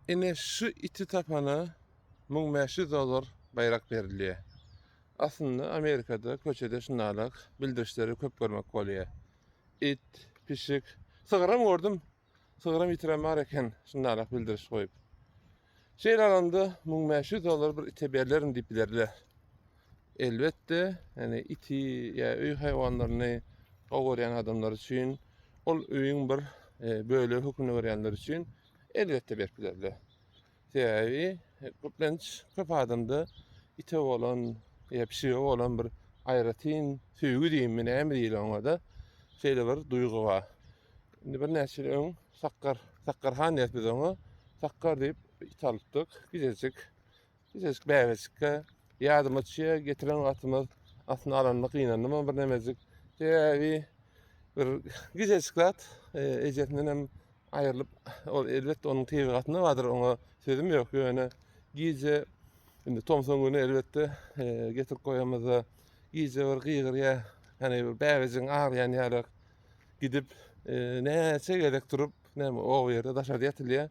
Ine şu iti tapana müň bäş ýüz dollar baýrak berilýär. Aslynda Amerikada köçede şundalak bildirişleri köp görmek bolýar. It, pişik, sygyram gördüm. Sygyram itiram bar eken şundalak bildiriş goýup. Şeýle alanda müň bäş ýüz dollar bir ite berlerin diýip bilerler. Elbetde, ýani iti ýa öý haýwanlaryny gowy görýän adamlar üçin ol öýüň bir e, bölegi hökmünde görýänler üçin Elbetde berip bilerler. Sebäbi köplenç köp adamda ite bolan ýa pişige bolan bir aýratyn söýgi diýimmi näme diýil oňada şeýle bir duýgy bar. Indi birnäçe ýyl öň Sakkar, Sakkarhan diýýäs biz oňa. Sakkar diýip it alypdyk, gijejik. Gijejik bäbeçikge ýadyma düşýär, getiren wagtymyz aslynda alanyma gynandymam bir nemejik. Sebäbi bir gijejik zat e, ejesinden hem aýrylyp ol elbetde onuň tebigatynda bardyr, oňa sözüm ýok. Ýöne gije indi tomsuň güni elbetde e, getirip goýamyzda gije bir gygyrýa, ýani bir bäbejigiň aglaýan ýaly gidip e, näçe gezek turup, näme o ýerde daşarda ýatylýar.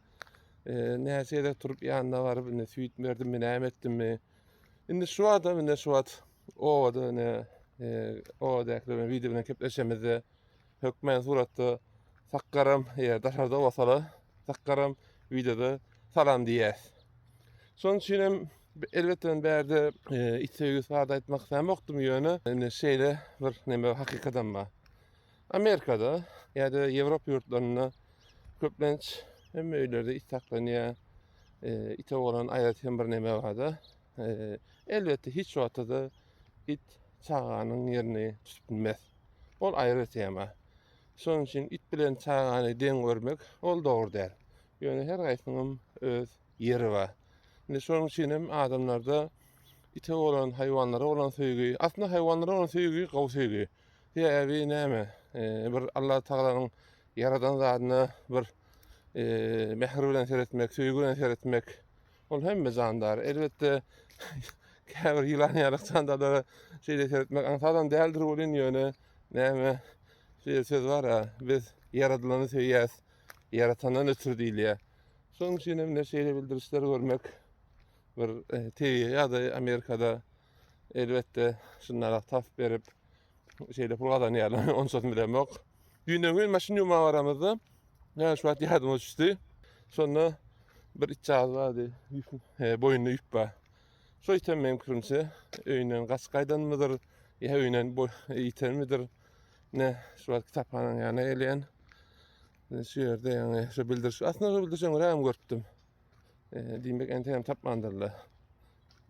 Näçe gezek turup ýanyna baryp indi süýt berdim mi näme etdim mi. Indi şu wagtda indi şu wagt obada indi obadaky bilen wideo bilen kepleşemizde hökmän suratda sakgaram eger daşarda bolsalar sakgaram wideoda salam diýýäs. Şonuň üçin hem elbetde bärde e, it söýgüsi bardy aýtmak islämokdym ýöne indi şeýle bir neme hakykadam bar. Amerikada ýa-da Ýewropa ýurtlarynda köplenç hemme öýlerde it saklanýar. E, ite bolan aýratyn bir näme bar-da. E, elbetde hiç wagtda it çaganyň ýerini tutup bilmez. Ol aýry tema. Şonuň üçin it bilen çagany deň görmek ol dogry däl. Ýöne her gaýsynyň öz ýeri bar. Indi şonuň üçin hem adamlarda ite bolan haýwanlara bolan söýgi, aslynda haýwanlara bolan söýgi gowy söýgi. Sebäbi näme? Bir Allah Tagalanyň ýaradan zadyna bir mähir bilen seretmek, söýgi bilen seretmek ol hemme jandar. Elbetde käbir ýylan ýaly jandarlara şeýle seretmek aňsadam däldir welin ýöne näme şeýle söz bar-a, biz ýaradylany söýýäs, ýaratandan ötür diýilýär. Şonuň üçin hem şeýle bildirişleri görmek bir tebigy ýagdaý Amerikada Elbetde şunlara tas berip şeýle pul gazanýarlar. Onçasyn bilemok. Düýnden gün maşyn ýuwmaga baramyzda näme şu wagt ýadyma düşdi. Şonda bir itjaz bardy. He, boýnunda ýüp bar. Şu ýeten meň pikirimçe öýünden gaç gaýdanmydyr, ýa öýünden boý ýitenmidir. Ne, şu wagt kitaphanaň ýanyna gelýän. Şu ýerde ýaňy şu bildiriş, aslynda şu bildirişe görä hem görüpdim. Diýmek, entegem tapmandyrlar.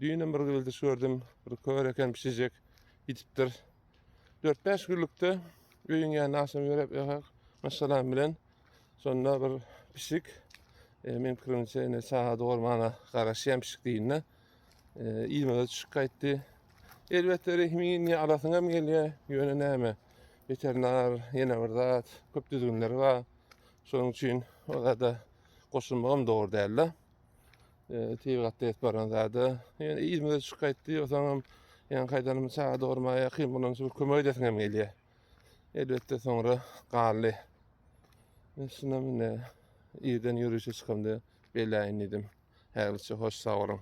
Düýnem bir güldiş gördüm. Bir kör eken pişijek gidipdir. 4-5 günlükde öýüň ýanyna aşam ýörep ýakak maşgalam bilen şonda bir pişik e, men pikirimçe ene çaga dogurmana garaşýan pişik diýinde e, iýmege düşüp gaýtdy. Elbetde rehmin ýa alasyň hem gelýär. Ýöne näme? Weterinar ýene bir zat, köp düzgünleri bar. Şonuň üçin orada goşulmagam dogry däldi. Eee, tiýi gatda ýetip baran zada. Ýöne ýüzüme çyk gaýtdy, ýogsaňam ýaňy gaýdanym çaga dogurmaga ýakyn, munuň üçin bir kömek edesiň hem gelýär. Elbetde soňra galdy. Men şunam indi irden ýörişe çykamda beläýin diýdim. Häzirlikçe hoş sag boluň.